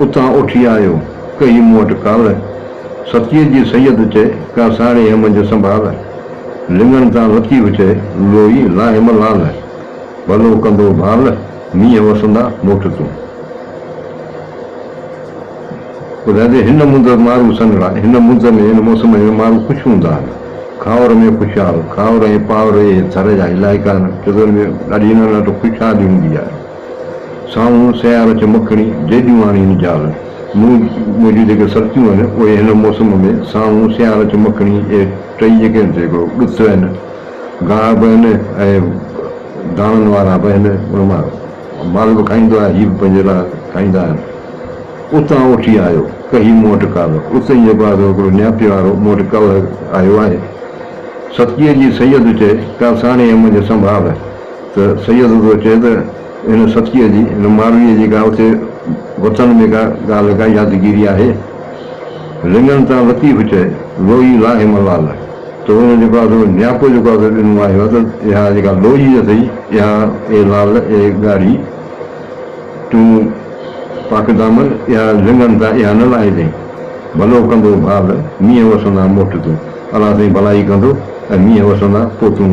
اتان اٿي آيو ڪئي مون وٽ ڪال. ستيء جي سيد چئي ڪا ساڙهي هيم جو سنڀال. لڱڻ تان لطيف چئي لوئي لا هيم لال. ڀلو ڪندو ڀال مينهن وسندا موٽ تون. ٻڌائجي هن مند مارو سنڙا هن مند ۾ هن موسم ۾ مارو خوش هوندا آهن. کاور ۾ خوشحال کاور ۽ پاور اهي ٿر جا علائقا آهن جتن ۾ ڏاڍي ننڍ خوشحالي هوندي آهي. سامهون سيار چمڪڻي جيڄوهاڻي ۽ جال مون جون جيڪي سرتيون آهن اهي هن موسم ۾ سامهون سيار چمڪڻي اهي ٽئي جيڪي آهن سي هڪڙو ڏت آهن ڳاهه به آهن ۽ داڻن وارا به آهن ان مان مال به کائيندو آهي هي به پنهنجي لاء کائيندا آهن اتان اوٺي آيو ڪهي مون وٽ ڪالهه اتي جيڪو آهي سو هڪڙو نياپي وارو مون وٽ ڪالهه آيو آهي سرتيء جي سيد چئي ڪا ساڻيهه منجهه سنڀال ته سيد ادو چئي ته هن سطڪيء جي، هن مارويء جي ڪا اتي وطن ۾ ڪا ڳالهه، ڪا يادگيري آهي؟ لڱن تان لطيف چئي، لوئي لاهي ملال، تو هن جيڪو آ سو نياپو جيڪو آ سو ڏنو آهي ته اها جيڪا لوئي اٿئي، اها اي لال، اي ڳاڙهي، تون پاڪ دامن اها لڱن تان اها نه لاهجئين. ڀلو ڪندو ڀال، مينهن وسندا موٽ تون. الا سائين ڀلائي ڪندو ۽ مينهن وسندا پوء تون.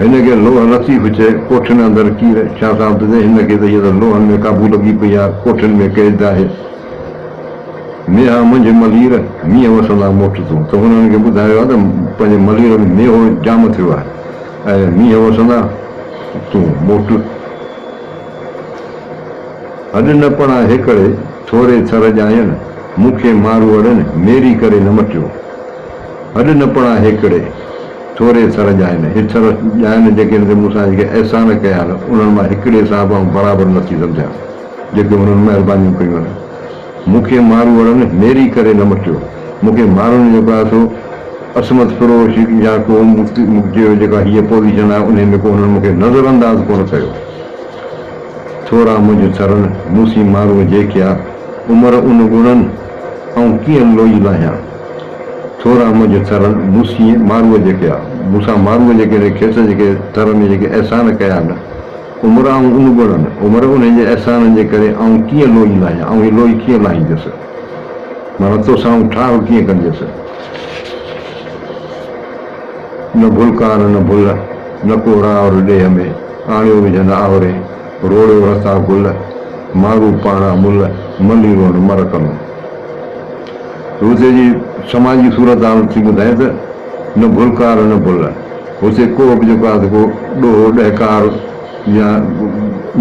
هن کي لوهه لطيف چئي ڪوٺين اندر ڪير ڇا ٿا بدين هن کي ته هيء ته لوهن ۾ قابو لڳي پئي آ ڪوٺين ۾ قيد آهي ميها منجهه ملير مينهن وسندا موٽ تون ته هنن کي ٻڌايو آ ته پنهنجي ملير ۾ ميهو جام ٿيو آهي ۽ مينهن وسندا تون موٽ هڏ نه پڻا هيڪڙي ٿوري ٿر ڄاين مون کي ماروئڙن ميري ڪري نه مٽيو. هڏ نه پڙان هيڪڙي، ٿوري ٿر ڄائن. هي ٿر ڄائن جيڪي هن تي مون سان جيڪي احسان ڪيا آهن، انهن مان هيڪڙي صاحب آئون برابر نه ٿي سمجهان، جيڪي هنن مهربانيون ڪيون آهن. مون کي ماروئڙن ميري ڪري نه مٽيو. مون کي ماروئڙن جيڪو آهي سو عصمت فروش يا ڪو مون چيو جيڪا هيء پوزيشن آهي، انهيء ۾ ڪو هنن مون کي نظر انداز ڪونه ڪيو. ٿورا منجهه ٿرن، مون سين ماروئڙ جيڪيا عمر ان ڳڻن، آئون ڪيئن لوئي لاهيان. ٿورا منهنجي ٿر موسيء ماروء جي ڪيا، مون سان ماروء جي ڪري کيس جيڪي ٿر ۾ جيڪي احسان ڪيا نه عمر آئون ان ڳڻن، عمر انهن جي احسانن جي ڪري آئون ڪيئن لوئي لاهيان، آئون هي لوئي ڪيئن لاهينديس، معنيٰ تو سان آئون ٺاهه ڪيئن ڪنديس. نه ڀلڪار نه ڀل، نه ڪو راء ور ڏيهه ۾، آڻيو وجهن آهوري، روڙيو رسا گل، مارو پاڻ امل، مليرو نه مر ڪلون. هتي جي سماجي صورتحال ٿي ٻڌائي ته، نه ڀلڪار نه ڀل. هتي ڪوهه به جيڪو آهي ته ڪو ڏوهه، ڏهڪار يا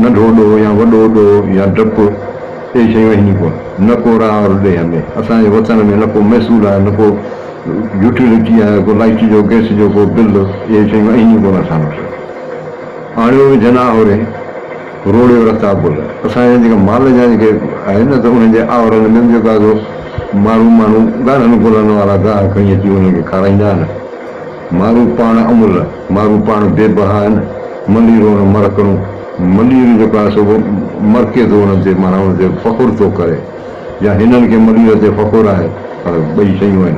ننڍو ڏوهه يا وڏو ڏوهه يا ڊپ اهي شيون آهن ئي ڪونه. نه ڪو راء ور ڏيهه ۾، اسان جي وطن ۾، نه ڪو محصول آهي، نه ڪو يوٽيلٽي آهي، ڪو لائٽ جو، گئس جو ڪو بل، اهي شيون آهن ئي ڪونه اسان وٽ. آڻيو وجهن آهورين. روڙيو رتابل اسان جا جيڪا مال جا جيڪي آهن نه ته انهن جي آورن ۾ به جيڪا سو مارو ماڻهو ڳاڙهن گلن وارا گاهه کڻي اچي انهن کي کارائيندا آهن. مارو پاڻ املهه، مارو پاڻ بي بها آهن، مليرو ان مرڪڻو، ملير جيڪو آهي سو مرڪي ٿو انهن تي معنيٰ انهن تي فخر ٿو ڪري يا هنن کي ملير تي فخر آهي پر ٻئي شيون آهن.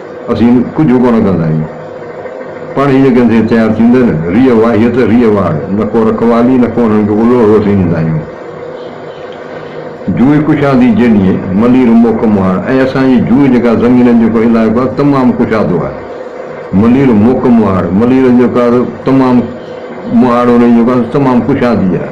اسين ڪجهه ڪونه ڪندا آهيون. پاڻ هي جيڪي اسين تيار ٿيندي نه ريء واهيء ته ريء واڙ، نه ڪو رکوالي نه ڪو انهن کي الوهو اسين ڏيندا آهيون. جوئي ڪشادي جيڏينهن ملير موکم آهي ۽ اسان جي جوئي جيڪا زمينن جو ڪو علائقو آهي تمام ڪشادو آهي. ملير موکم آهي. ملير جيڪا تمام مهاڙ انهي جيڪا تمام ڪشادي آهي.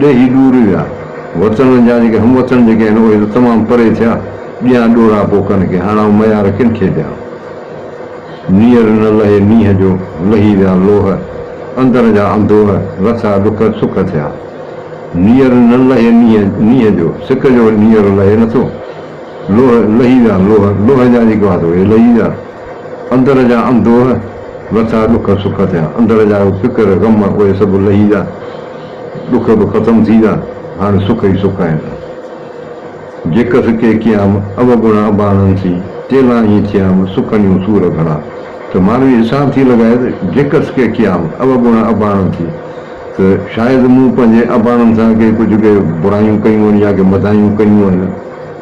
ڏيهي ڏور ويا. وطن جا جيڪي هم وطن جيڪي آهن اهي ته تمام پري ٿيا. ڏيان ڏورا پوء ڪن کي، هاڻ آئون ميار ڪن کي ڏيان. نيئر نه لهي نينهن جو، لهي ويا لوهه. اندر جا انڌوهه، لٿا ڏک سک ٿيا. نيئر نه لهي نينهن جو، سڪ جو نيئر لهي نٿو. لوهه، لهي ويا لوهه، لوهه جا جيڪي هئا ته اهي لهي ويا. اندر جا انڌوهه، لٿا ڏک سک ٿيا. اندر جا فڪر، غم اهي سڀ لهي ويا. ڏک به ختم ٿي ويا، هاڻي سک ئي سک آهن. جيڪس ڪي ڪيام اوگڻا اباڻن ٿي، ڪيلان هي ٿيام سڪنيون سور گهڻا. ته مانوي حساب ٿي لڳائي ته جيڪس ڪي ڪيام اوگڻا اباڻن ٿي ته شايد مون پنهنجي اباڻن سان ڪي ڪجهه ڪي برايون ڪيون آهن يا ڪي مدايون ڪيون آهن.